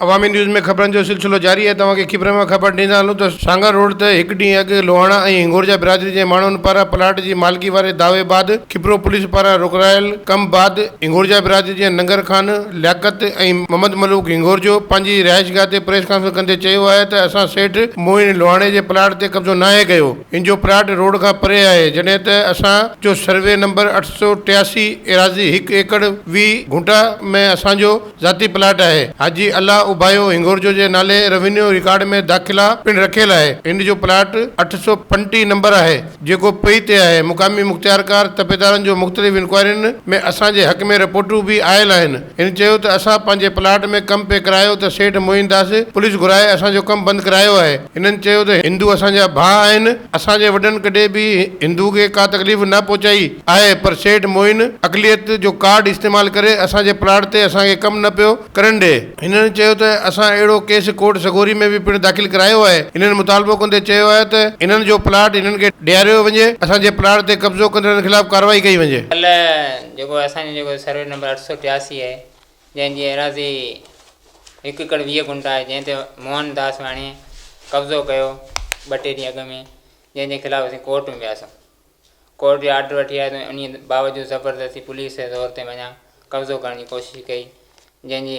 عوامي news ۾ خبرن جو سلسلو جاري آهي توهان کي کيپرن مان خبر ڏيندا هلون ته سانگهڙ روڊ تي هڪ ڏينهن اڳ لوهاڻا ۽ هنگورجا برادري جي ماڻهن پاران پلاٽ جي مالڪي واري دعوي بعد کيپرو پوليس پاران رڪرايل ڪم بعد هنگورجا برادري جي ننگر خان لياقت ۽ محمد ملوڪ هنگورجو پنهنجي رهائشگاهه تي پريس ڪانفرنس ڪندي چيو آهي ته اسان سيٺ معين لوهاڻي جي پلاٽ تي قبضو ناهي ڪيو هن جو پلاٽ روڊ کان پري آهي، جڏهن ته اسان جو سروي نمبر اٺ سؤ ٽياسي ايراضي هڪ ايڪڙ ويهه گهنٽا ۾ اسان جو ذاتي پلاٽ آهي. حاجي الله اوبايو هنڱورجو جي نالي روينيو رڪارڊ ۾ داخلا پڻ رکيل آهي. هن جو پلاٽ اٺ سؤ پنجٽيهه نمبر آهي، جيڪو پئي تي آهي. مقامي مختيارڪار تپيدارن جو مختلف انڪوائرين ۾ اسان جي حق ۾ رپورٽون به آيل آهن. هن چيو ته اسان پنهنجي پلاٽ ۾ ڪم پئي ڪرايو ته سيٺ معين داس پوليس گهرائي اسان جو ڪم بند ڪرايو آهي، هنن چيو ته هندو اسان جا ڀاء آهن، اسان جي وڏن ڪڏهن به هندو کي ڪا تڪليف نه پهچائي آهي پر سيٺ معين اقليت جو ڪارڊ استعمال ڪري اسان جي پلاٽ تي اسان کي ڪم نه پيو ڪرڻ ڏئي. هنن چيو ته اسان اهڙو ڪيس ڪورٽ سڳوري ۾ به پڻ داخل ڪرايو آهي، هنن مطالبو ڪندي چيو آهي ته هنن جو پلاٽ هنن کي ڏياريو وڃي، اسان جي پلاٽ تي قبضو ڪندڙن خلاف ڪارروائي ڪئي وڃي. جيڪو اسان جو جيڪو سروي نمبر اٺ سؤ ٽياسي آهي جنهن جي ايراضي هڪ ايڪڙ ويهه گنٽ آهي جنهن تي موهن داس واڻيي قبضو ڪيو ٻه ٽي ڏينهن اڳ ۾ جنهن جي خلاف اسين ڪورٽ ۾ وياسون ڪورٽ جي آرڊر وٺي آياسون انهي باوجود زبردستي پوليس جي زور تي مڃان قبضو ڪرڻ جي ڪوشش ڪئي جنهن جي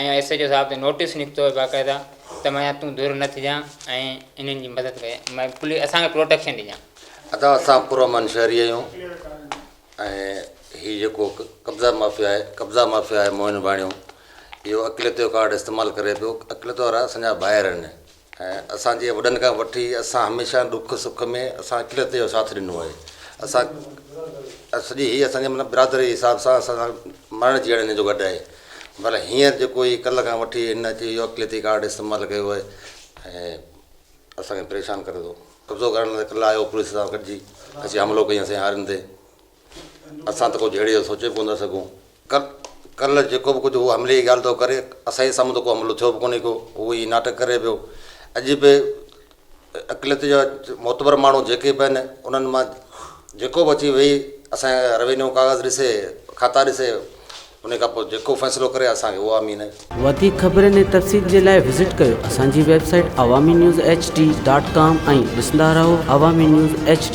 ۽ ايس ايڇ او صاحب تي نوٽيس نڪتو آهي باقاعده ته ميان تون ڌر نه ٿجان ۽ انهن جي مدد ڪجان ۽ پوليس اسان کي پروٽيڪشن ڏجان. ادا اسان پرامن شهري آهيون ۽ هي جيڪو قبضا مافيا آهي قبضا مافيا آهي موهن ڀاڻيو اهو اقليتو ڪارڊ استعمال ڪري پيو اقليتو وارا اسان جا ڀائر آهن ۽ اسان جي وڏن کان وٺي اسان هميشه ڏک سک ۾ اسان اقليت جو ساٿ ڏنو آهي اسان سڄي هي اسان جي مطلب برادري جي حساب سان اسان سان مرڻ جيئڻ هن جو گڏ آهي پر هينئر جيڪو هي ڪلهه کان وٺي هن اچي اهو اقليتي ڪارڊ استعمال ڪيو آهي ۽ اسان کي پريشان ڪري ٿو قبضو ڪرڻ لاء ڪلهه آيو پوليس سان گڏجي اسين حملو ڪياسين هارين تي اسان ته ڪو جهيڙي جو سوچي به ڪو نه سگهون. ڪر ڪرل جيڪو به ڪجهه هو حملي جي ڳالهه ٿو ڪري. اسان جي سامهون ته ڪو حملو ٿيو به ڪونهي ڪو. هو ائين ناٽڪ ڪري پيو. اڄ به عقليت جا معتبر ماڻهو جيڪي به آهن انهن مان جيڪو به اچي ويهي اسان جا روينيو ڪاغذ ڏسي، کاتا ڏسي انهي کان پوء جيڪو فيصلو ڪري اسان کي اهو آمين آهي. وڌيڪ خبرن ۽ تفصيل جي لاء وزٽ ڪريو اسان جي website Awami news H D dot com ۽ ڏسندا رهو عوامي نيوز ايڇ ڊي.